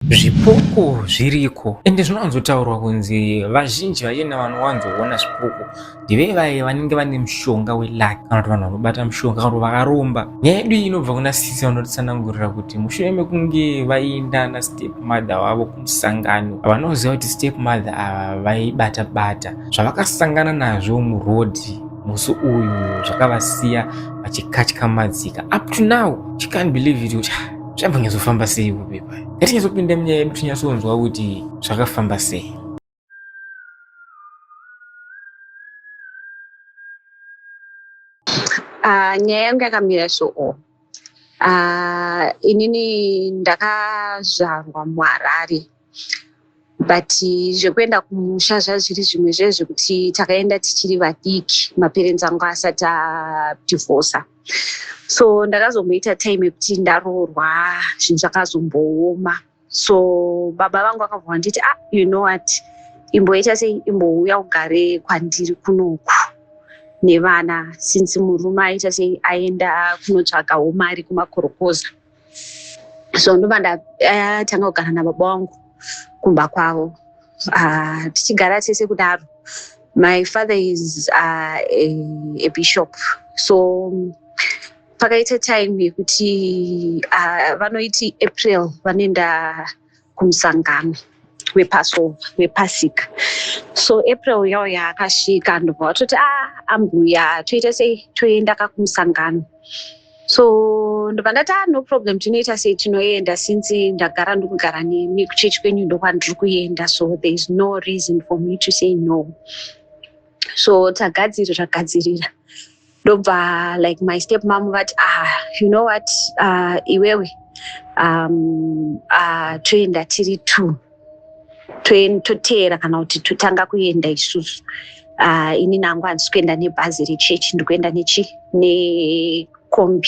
Zvipoko zviriko ende zvinowanzotaurwa kunzi vazhinji vachena vanowanzoona zvipoko ndive vaye vanenge vane mushonga welaki kana kuti vanhu vanobata mushonga kana kuti vakaromba nyaya yedu iyi inobva kuna sisi vanotitsanangurira kuti mushure mekunge vainda nastep mother wavo kumusangano vanoziva kuti step mother ava vaibata bata zvavakasangana nazvo murodhi musi uyu zvakavasiya vachikatya madzika up to now she can't believe it kuti zvaiva nyazofamba sei kupepa yatinyazopinda munyaya yedu tinyasonzwa kuti zvakafamba sei ah, nyaya yangu yakamira soo ah, inini ndakazvarwa muharare but zvekuenda kumusha zvazviri zvimwe zve zvekuti takaenda tichiri vadiki maperenzi angu asati adivhosa so ndakazomboita time yekuti ndaroorwa zvinhu zvakazombooma so baba vangu vakabva vanditi ah you know what imboita sei imbouya ugare kwandiri kunoku nevana since murume aita sei aenda kunotsvagawo mari kumakorokoza so ndobva ndatanga eh, kugara nababa wangu kumba kwavo ah, tichigara tese kudaro my father is uh, a, a bishop so pakaita time yekuti uh, vanoiti april vanoenda kumusangano wepasova wepasika so april yawo yaakasvika ndobva vatoti a ah, ambuya toita sei toenda ka kumusangano so ndobva ndati a ah, no problem tinoita sei tinoenda since ndagara ndikugara nemi kuchechi kwenyu ndokwandiri kuenda so there is no reason for me to say no so tagadziri zvagadzirira ndobva like my step mom vati ah you know what uh, iwewe um, uh, toenda tiri two toteera kana kuti totanga kuenda isusu uh, ini nangu handisi kuenda nebhazi rechechi ndikuenda nechi nekombi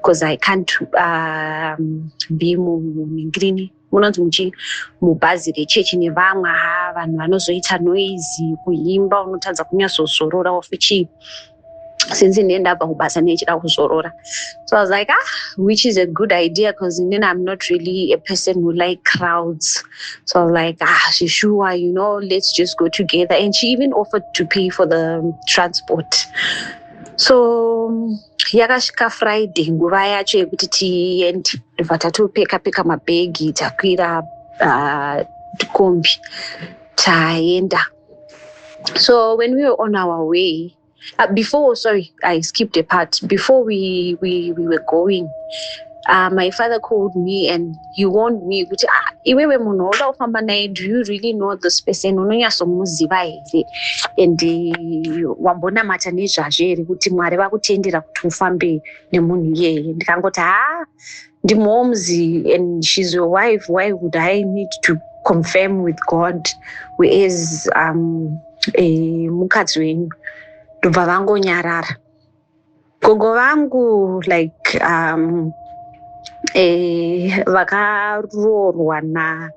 bcause i can't um, be muningrini munonzi muchii mubhazi rechechi nevamwe haa vanhu vanozoita noizi kuimba unotadza kunyatsozorora of chii since ndiye ndabva kubasa nechida kuzorora so i was like ah which is a good idea because then i'm not really a person who like crowds so i was like ah sure you know let's just go together and she even offered to pay for the transport so yakasvika friday nguva yacho yekuti tiende ndobva tatopeka peka mabhegi takwira uh, kombi taenda so when we were on our way uh, before sorry i skipped a part before we, we, we were going uh, my father called me and he warned me kuti ah, iwewe munhu wauda kufamba naye do you really know this person unonyatsomuziva here and eh, wambonamata nezvazvo here kuti mwari vakutendera kuti ufambe nemunhu iyeye ndikangoti haa ndimoms and shes your wife why would i need to confirm with god wheas um, eh, mukadzi wenyu ndobva vangonyarara Gogo vangu like um, eh, vakaroorwa na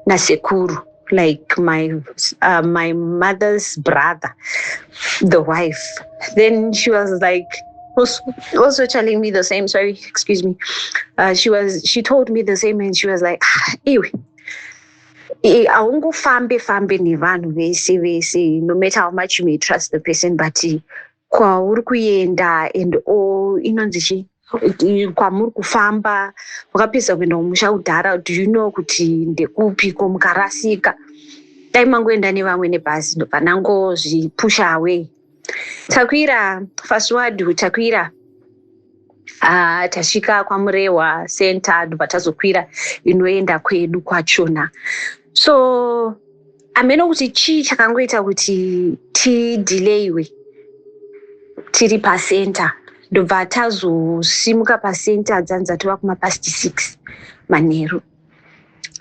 nasekuru like my uh, my mother's brother the wife then she was like was also telling me the same sorry excuse me uh, she was she told me the same and she was like ah, iwe eh, haungofambe fambe nevanhu vese vese no matter how much you may trust the person but kwauri kuenda and all inonzi chii kwamuri kufamba wakapedza kuenda kumusha kudhara do you know kuti ndekupi ko mukarasika dai mangoenda nevamwe nebhazi ndobva nangozvipusha away takwira faswad takwira Ah, tasvika kwamurewa center ndobva tazokwira inoenda kwedu kwachona so hameno kuti chii chakangoita kuti tidelayiwe tiri pacenter ndobva tazosimuka pacenter dzanzi dzatova kumapast six manheru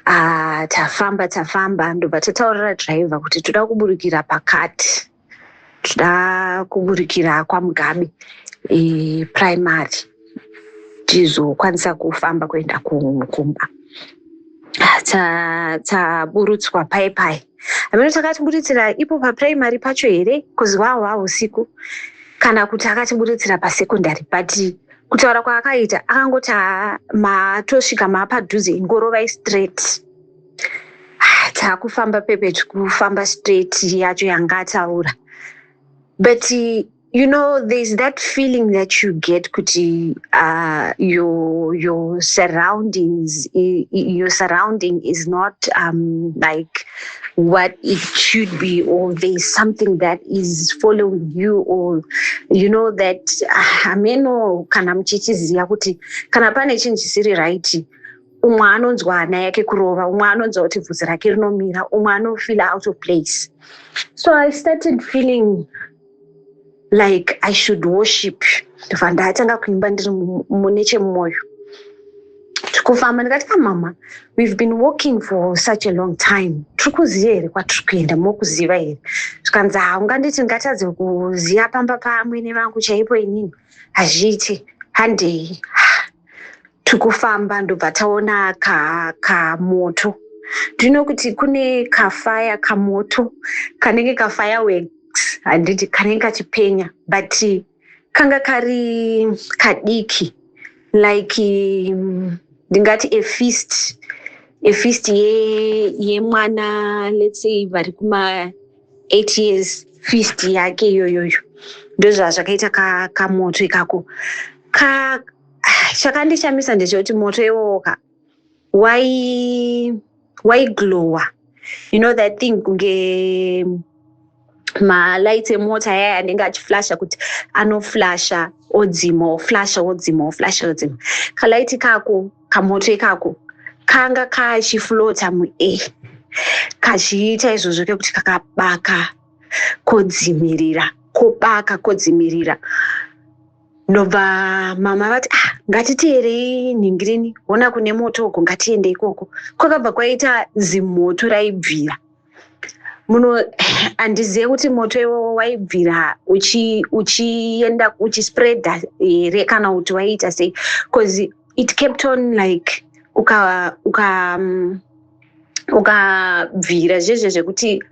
ah, tafamba tafamba ndobva tataurira driver kuti toda kuburikira pakati tinoda kuburikira kwamugabe e, primary tizokwanisa kufamba kuenda kumba taburutswa paye paye amene takatiburitsira ipo paprimary pacho here bcause wahwa usiku kana kuti akatiburitsira pasecondary but kutaura kwaakaita akangoti matosvika maapadhuze ingorovai straight taakufamba pepeti kufamba straight yacho yanga ataura but you know there's that feeling that you get kuti uh, your, your surroundings your surrounding is not um, like what it should be or there's something that is following you or you know that hameno ah, kana muchichiziva kuti kana pane chinhu chisiri right umwe anonzwa hana yake kurova umwe anonzwa kuti bvudzi rake rinomira umwe anofeela out of place so i started feeling like i should worship ndobva ndatanga kuimba ndiri mune chemwoyo tikufamba ndikati ka ah, mama we've been walking for such a long time tiri kuziva here kwatiri kuenda mokuziva here zvikanzi haunganditi ah, ngatadze kuziva pamba pamwene vangu chaipo inini hazviiti handei tikufamba ndobva taona ka kamoto ndino kuti kune kafaya kamoto kanenge kafaya wex handiti kanenge kachipenya but kanga kari kadiki like mm, ndingati um, efist efist yemwana ye let's say vari kuma eight years fist yake iyoyoyo ndozvazvakaita kamoto ka ikako ka Ah, chakandishamisa ndechekuti moto iwowoka waiglowa you know that thing kunge malights emota yaya anenge achiflasha kuti anoflasha odzima oflasha odzima oflasha odzima kalight kako kamoto ikako kanga kachiflota muair kachiita izvozvo kekuti kakabaka kodzimirira kobaka kodzimirira ndobva mama vati ah ngatiteerei nhingirini hona kune moto uko ngatiende ikoko kwakabva kwaita zimoto raibvira muno handizive kuti moto iwowo waibvira uchienda uchi uchispreada here kana kuti waiita sei bcause it kept on like uka uka um, ukabvira zvezve zvekuti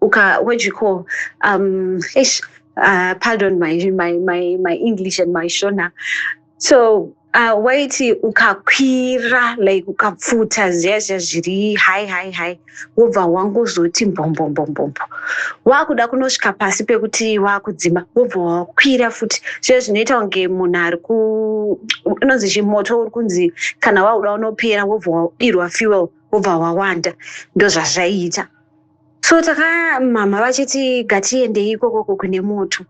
uka wejiko um eish uh, pardon my, my, my, my english and my shona so uh, waiti ukakwira like ukapfuta ziya ziya zviri hai hai hai wobva wangozoti mbombombombombombo wakuda kunosvika pasi pekuti wakudzima wobva wakwira futi zviya zvinoita kunge munhu ari ku inonzi chimoto uri kunzi kana wakuda unopera wobva wadirwa fuel wobva wawanda ndozvazvaiita so takamhamha vachiti gatiendei ikokoko kune moto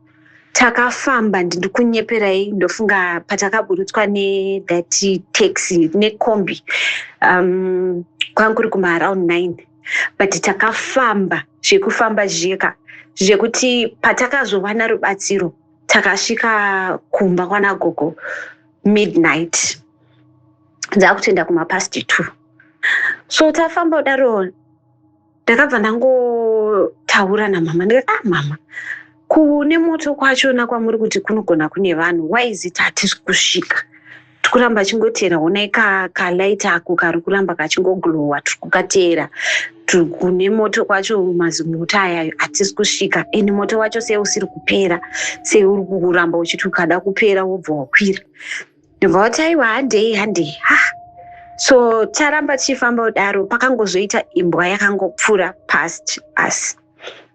takafamba ndindikunyeperai ndofunga patakaburutswa nethat taxi necombi um, kwanga kuri kumaaround nine but takafamba zvekufamba zviyeka zvekuti patakazowana rubatsiro takasvika kumba kwana gogo midnight dzakutoenda kumapast two so tafamba kudaro ndakabva ndangotaura namama ndikati ah mama kune moto kwachona kwamuri kuti kunogona kune vanhu why is it hatisi kusvika tiri kuramba achingoteera honai kalight ako kari kuramba kachingoglowa tiri kukateera kune moto kwacho mazimuta ayayo hatisi kusvika and moto wacho sei usiri kupera sei uri kuramba uchiti ukada kupera wobva wakwira ndobvavati aiwa handei handei ha so charamba tichifamba kudaro pakangozoita imbwa yakangopfuura past us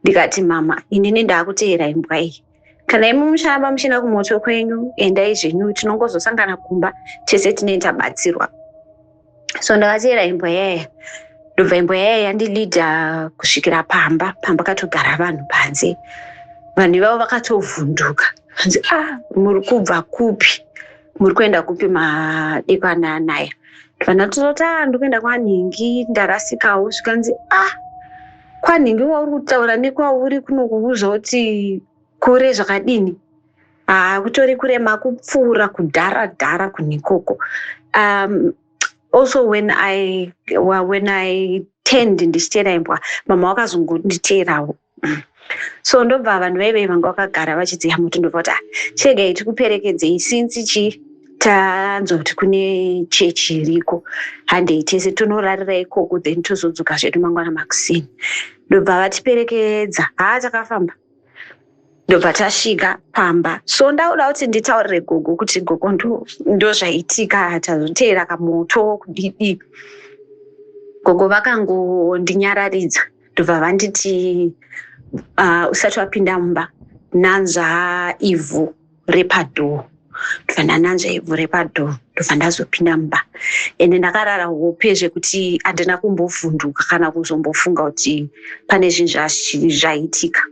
ndikati mama inini ndaakuteera imbwa iyi kana imi mucharamba muchienda kumoto kwenyu endai zvenyu tinongozosangana kumba tese tinei tabatsirwa so ndakateera imbwa yaya ndobva imbwa yaya yandilida kusvikira pamba pamba katogara vanhu panze vanhu ivavo vakatovhunduka anzi a ah, muri kubva kupi muri kuenda kupi madekwana anaya ndivana tototi a ah, ndi kuenda kwanhingi ndarasikawo zvikanzi a ah, kwanhingi wauri kutaura nekwauri kunokuuza kuti Kure zvakadini? Haa kutori kure makupfuura kudhara dhara kunikoko. Um, also when I, well, when I tend ndichiteera imbwa mama wakazongonditeerawo so ndobva vanhu vaive vanga vakagara vachidziya muti ndobva kuti ah, chegai tikuperekedzei since chii tanzwa kuti kune chechi iriko handei tese tonorarira ikoko then tozodzoka zvedu mangwana makuseni ndobva vatiperekedza haa takafamba ndobva tasvika pamba so ndauda kuti nditaurire gogo kuti gogo ndozvaitika ndo tazoteera kamoto kudidi gogo vakangondinyararidza ndobva vanditi uh, usati wapinda mumba nanzva ivhu vhure padhoo ndobva ndananzva ivhure padhoo ndobva ndazopinda mumba ende ndakarara hope zvekuti handina kumbovhunduka kana kuzombofunga kuti pane zvinhu zvaitika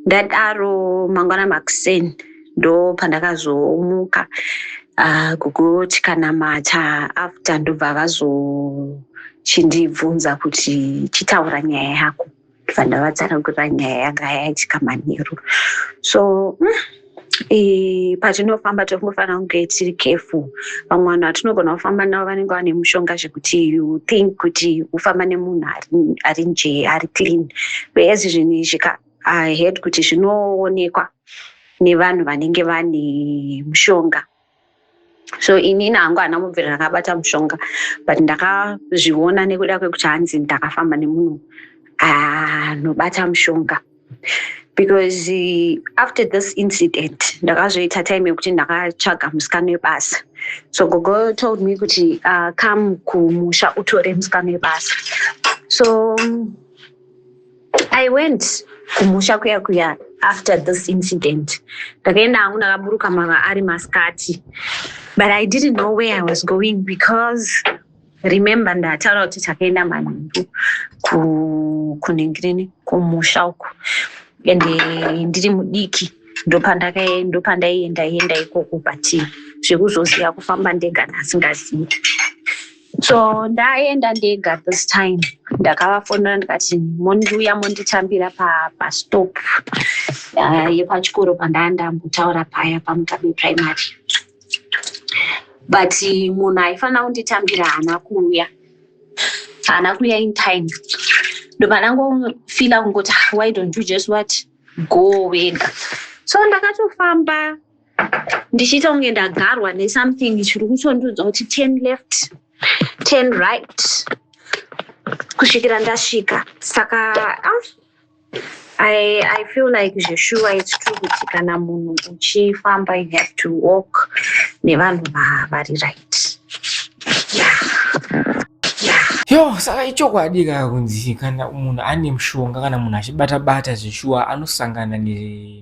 ndadaro mangwana makusen ndo pandakazomuka ah, kugoti kana mata after ndobva vazochindibvunza kuti chitaura nyaya yako Vana vatsanangura nyaya yanga yaitika manheru so eh, patinofamba tiri kufanira kunge tiri careful vamwe vanhu vatinogona kufamba navo vanenge vane mushonga zvekuti you think kuti ufamba nemunhu ari- ari njee ari clean whereas zvinhu izvi ka i heard kuti zvinoonekwa nevanhu vanenge vane mushonga so inini hangu hana mubvira rakabata mushonga but ndakazviona nekuda kwekuti hanzi ndakafamba nemunhu anobata ah, mushonga because eh, after this incident ndakazoita time yekuti ndakatsvaga musikano webasa so gogo told me kuti uh, come kumusha utore musikano webasa so I went kumusha kuya kuya after this incident. Ndakaenda hangu ndakaburuka mava ari masikati. But I didn't know where I was going because remember ndataura kuti takaenda manheru kunengireni kumusha uku ende eh, ndiri mudiki ndopandaienda enda ikoko but zvekuzoziva kufamba ndega ndasingazivi so ndaenda ndega this time ndakavafonera ndikati mondiuya monditambira pastop uh, yepachikoro pandaa ndambotaura paya pamugabe primary but munhu aifanira kunditambira haana kuuya haana kuuya in time ndopanangofila kungoti ah, why don't you just what go wega so ndakatofamba ndichiita kunge ndagarwa nesomething chiri kutondiudza kuti ten left ten right kusvikira ndasvika saka ah, I, i feel like zveshuwa its true kuti kana munhu uchifamba you have to walk nevanhu vari right yeah. yo saka ichokwadi kaya kunzi kana munhu ane mushonga kana munhu achibata bata zveshuwa anosangana ne